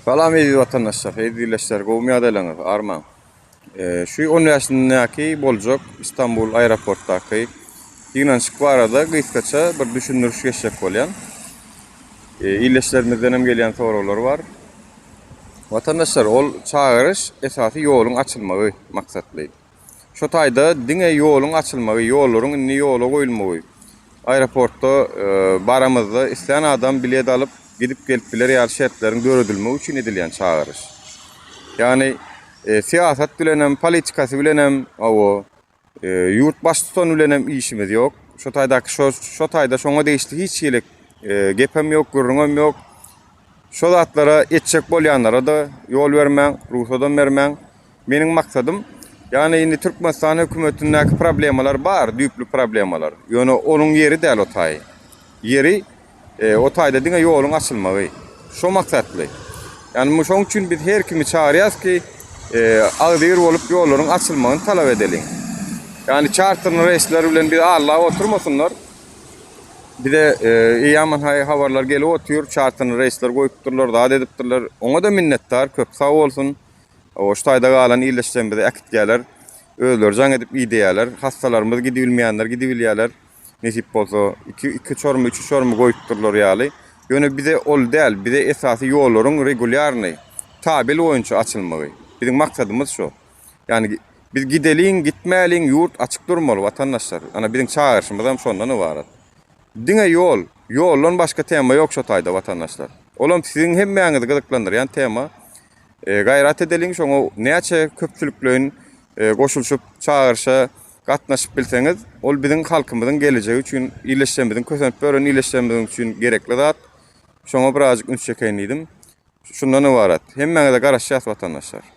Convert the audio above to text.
Salam eziz watandaşlar, eziz ildeşler, gowumy ýagdaýlaryňyz, armaň. Şu 10 bäşindäki boljak Istanbul aeroportdaky ýygnanyşyk barada gysgaça bir düşündiriş geçjek bolýan. Ildeşlerimizden hem gelýän soraglar bar. Watandaşlar, ol çagyryş esasy ýoluň açylmagy maksatly. Şu taýda diňe ýoluň açylmagy, ýollaryň indi ýola goýulmagy, aeroportda baramyzda islän adam bilet alyp, gidip-gelip biler ýaly şertleriň döredilmegi üçin edilýän çagyryş. Ýagny syýasat bilenem, politikasy bilenem, hawa, ýurt baştutany bilenem işimiz ýok. Şu taýdaky şo şo taýda şoňa degişli hiç hili gepem ýok, gürrüňem ýok. Şo zatlara etjek bolýanlara-da ýol bermäň, rugsadam bermäň. Meniň maksadym, ýagny indi Türkmenistan hökümetindäki problemalar bar, düýpli problemalar. Ýöne onuň ýeri däl o taý. Ýeri o taýda diňe ýoluň açylmagy. Şo maksatly. Ýagny şoň üçin biz her kimi çagyrýarys ki, agzybir bolup ýollaryň açylmagyny talap edeliň. Ýagny çarterli reýsler bilen bizi allap oturmasynlar. Bize eýýaman-haý habarlar gelip otyr, çarterli reýsler goýupdyrlar, zat edipdirler. Oňa-da minnetdar, köp sag bolsun. Hawa, şu taýda galan ildeşlerimize äkitýärler. Özleri jaň edip idýärler. Hassalarymyz gidibilmeýänler gidibilýärler. Nesip bolsa, iki, iki uçarymy, üç uçarymy goýupdyrlar ýaly. Ýöne bize ol däl, bize esasy ýollaryň regulýarnyý, tabel boýunça açylmagy. Biziň maksadymyz şu. Ýagny biz gideliň, gitmäliň, ýurt açyk durmaly, watandaşlar. Ana, biziň çagyryşymyzam şondan ybarat. Diňe ýol, ýoldan başga tema ýok şu taýda, watandaşlar. Olam siziň hemmäňizi gyzyklandyrýan tema. Gaýrat edeliň şoňa näçe köpçülikleýin goşulyşyp çagyryşa gatnaşyp bilseňiz ol biziň halkymyzyň gelejegi üçin illeşjemiziň kösenip ýören illeşjemiziň üçin gerekli zat şoňa birazjyk üns çekeýin diýdim şundan ybarat hemmäňize garaşýas watandaşlar.